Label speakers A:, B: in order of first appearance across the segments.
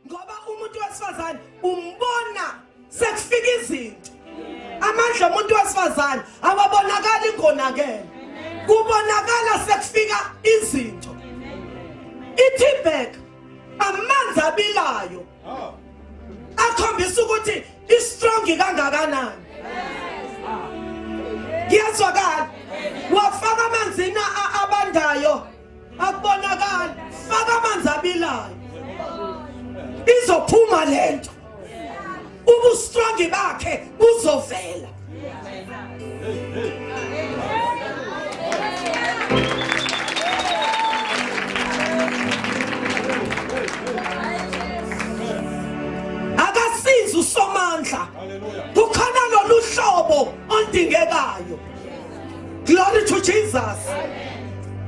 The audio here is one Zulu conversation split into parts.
A: ngoba umuntu wesifazane umbona sekufika izinto amandla omuntu wesifazane awabonakali ngonakele kubonakala sekufika izinto ithibheka amanzi abilayo akhombisa ukuthi istrong kangakanani ngiyazwakala wafaka amanzini abandayo akubonakali faka amanzi abilayo izophuma lento ubustrongi bakhe buzovela akasizi usomandla kukhona lolu hlobo ondingekayo glory to jesus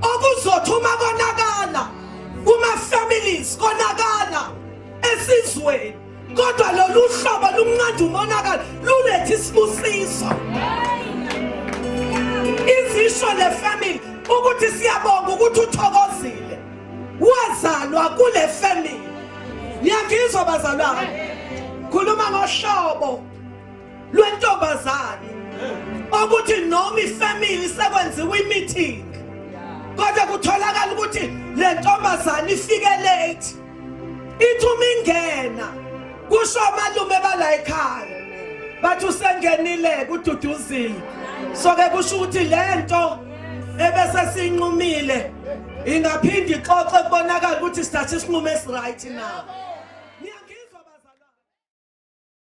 A: okuzothi uma konakala kuma-families konakala esizweni kodwa lolu hlobo lunqanda umonakalo luletha isibusiso izisho le family ukuthi siyabonga ukuthi uthokozile wazalwa kule family niyangizwa bazalwane khuluma ngohlobo lwentombazane okuthi noma ifamily sekwenziwa imeeting kodwa kutholakala ukuthi le ntombazane ifike late ithi uma ingena kusho amalume bala ekhaya bathi usengenile kududuzile so ke kusho ukuthi le nto ebese sinqumile ingaphinde ixoxe kubonakala ukuthi sithathe isinqumo esiright na